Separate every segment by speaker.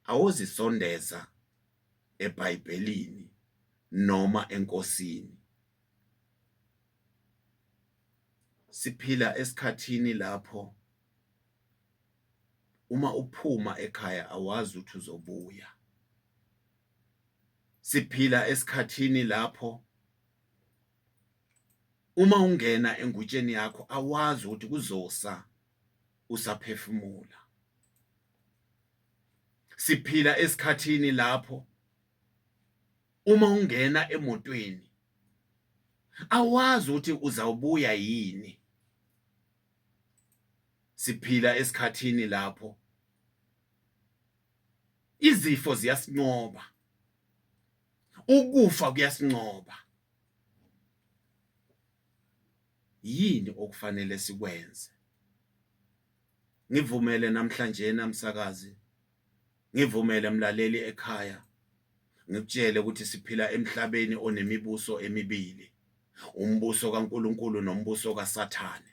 Speaker 1: Awuzisondeza eBhayibhelini noma eNkosini. Siphila esikhathini lapho uma uphuma ekhaya awazi ukuthi uzobuya. Siphila esikhathini lapho uma ungena engutsheni yakho awazi ukuthi kuzosa usaphefumula siphila esikhathini lapho uma ungena emotweni awazi ukuthi uzawubuya yini siphila esikhathini lapho izifo ziyasinqoba ukufa kuyasinqoba yini okufanele sikwenze ngivumele namhlanje namsakazi ngivumele mlaleli ekhaya ngikutshele ukuthi siphila emhlabeni onemibuso emibili umbuso kaNkuluNkulu nombuso kaSathane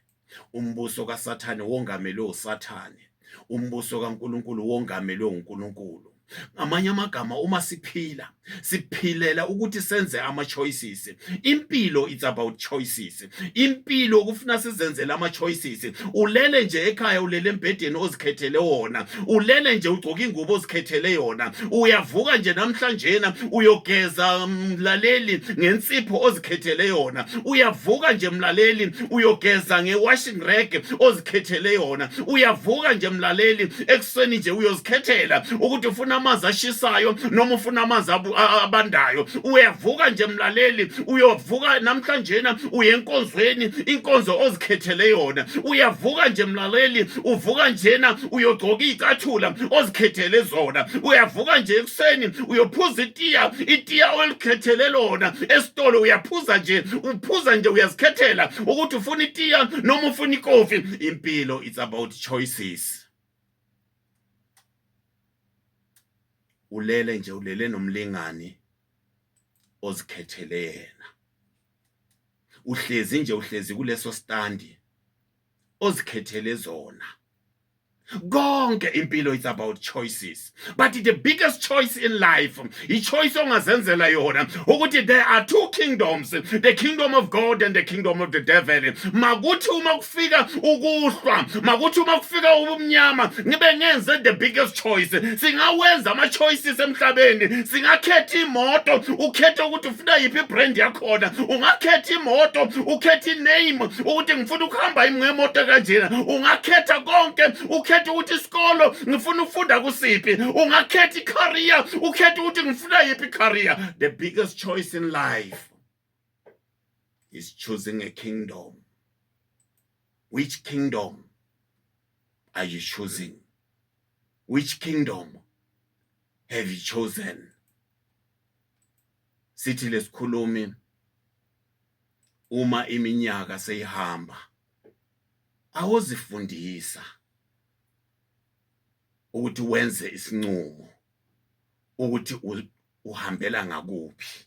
Speaker 1: umbuso kaSathane wongamelwe uSathane umbuso kaNkuluNkulu wongamelwe uNkuluNkulu ngamanye amagama uma siphila siphilela ukuthi senze ama choices impilo it's about choices impilo kufuna sizenzele ama choices ulele nje ekhaya ulele embhedeni ozikhethele wona ulele nje ugcoka ingubo ozikhethele yona uyavuka nje namhlanjena uyogeza mlaleli ngensipho ozikhethele yona uyavuka nje mlaleli uyogeza ngewashing rag ozikhethele yona uyavuka nje mlaleli ekuseni nje uyozikhethela ukuthi ufuna amanzi ashisayo noma ufuna amanzi abandayo uyavuka nje mlaleli uyovuka namhlanjena uyenkonzweni inkonzo ozi ozikhethele yona uyavuka nje mlaleli uvuka njena uyogcoka iy'cathula ozikhethele zona uyavuka nje ekuseni uyophuza itiya itiya olikhethele lona esitolo uyaphuza nje uphuza nje uyazikhethela ukuthi ufuna itiya noma ufuna ikofi impilo it's about choices ulele nje ulele nomlingani ozikhethele yena uhlezi nje uhlezi kuleso standi ozikhethele zona konke impilo it's about choices but the biggest choice in life ichoice ongazenzela yona ukuthi there are two kingdoms the kingdom of god and the kingdom of the devil makuthi uma kufika ukuhlwa makuthi uma kufika ubumnyama ngibe ngenze the biggest choice singawenza ama-choices emhlabeni singakhetha imoto ukhethe ukuthi ufuna yiphi ibrand yakhona ungakhetha imoto ukhetha iname ukuthi ngifuna ukuhamba yimi ngemoto kanjena ungakhetha konke ukhetha ukuthi isikolo ngifuna ukufunda kusiphi ungakhetha icareer ukhetha ukuthi ngifuna yiphi icareer the biggest choice in life is choosing a kingdom. Which kingdom are you choosing? Which kingdom have you chosen? Sithi lesikhulumi uma iminyaka seyihamba awuzifundisa ukuthi wenze isinqumo ukuthi uhambela ngakuphi